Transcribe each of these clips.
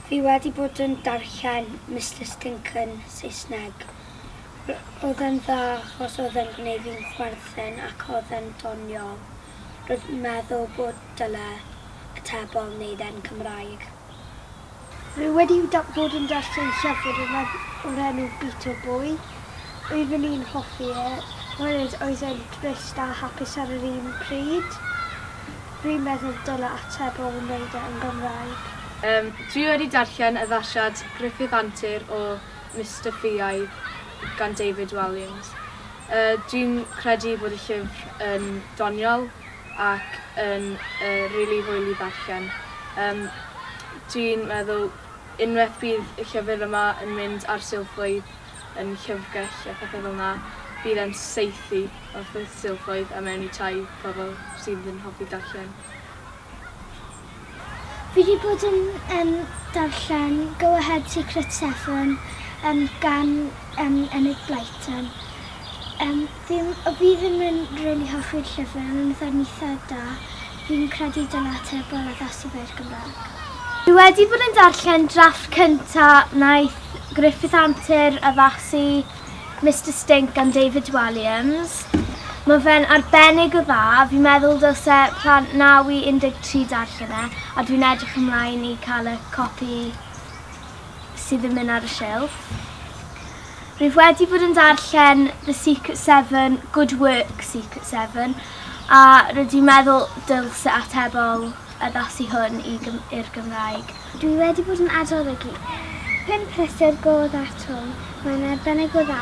Fi wedi bod yn darllen Mister Stinken, Saesneg. Oedd e'n dda achos oedd e'n gwneud fi'n chwerthin ac oedd e'n doniol. Roedd meddwl bod dyle atebol wneud e'n Cymraeg. Rwy wedi bod yn darllen llyfr yma o'r enw Beetle Boy. Oeddwn i'n hoffi e, oherwydd oedd e'n drist a hapus ar yr un pryd. Rwy'n meddwl dyla ateb o wneud e yn Gymraeg. Yym, dwi wedi darllen addasiad Griffith Antur o Mister Ffiaidd gan David Walliams. Yy, dwi'n credu bod y llyfr yn doniol. ac yn yy rili hwyl i ddarllen. Yym dwi'n meddwl unweth bydd y llyfyr yma yn mynd ar silffoedd yn llyfrgell a phethe fel 'na bydd e'n saethu wrth y silffoedd a mewn i tai pobol sydd yn hoffi darllen. Fi 'di bod yn yym darllen Go Ahead Secret Seven yym gan yym Enid Blyton. Yym fi o fi ddim yn rili hoffi'r llyfr ond yn fatha'n itha da. Fi'n credu dyla Atebol addasu fe i'r Gymrag. Fi wedi bod yn darllen drafft cynta' naeth Griffith Antur addasu. Mister Stink gan David Walliams. Mae fe'n arbennig o dda, fi'n meddwl dylse plant 9 i 13 darllen e, a dwi'n edrych ymlaen i cael y copi sydd yn mynd ar y silff. Rwyf wedi bod yn darllen The Secret Seven, Good Work Secret Seven, a rydw i'n meddwl dylse atebol addasu hwn i Gym i'r Gymraeg. Dwi wedi bod yn adolygu pump rhestr go dda Twm, mae'n arbennig o dda,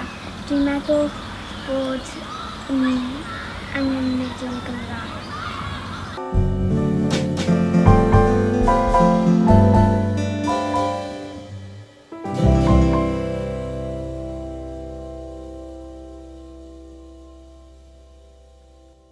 dwi'n meddwl bod ni angen nid yn Gymraeg.